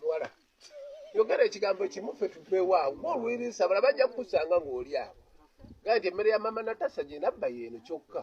luwala yogera ekigambo kimu fe tuveewaawo ngaolwiriisa bala bajja kukusanga ng'oli awo gaa nti emmere ya mama natasa gyenabba yeeno kyokka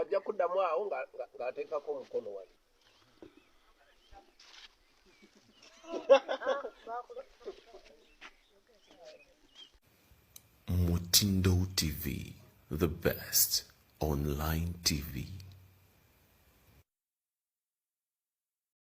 ajja kuddamu awo ng'ateekako omukono wali mutindo tv the best online tv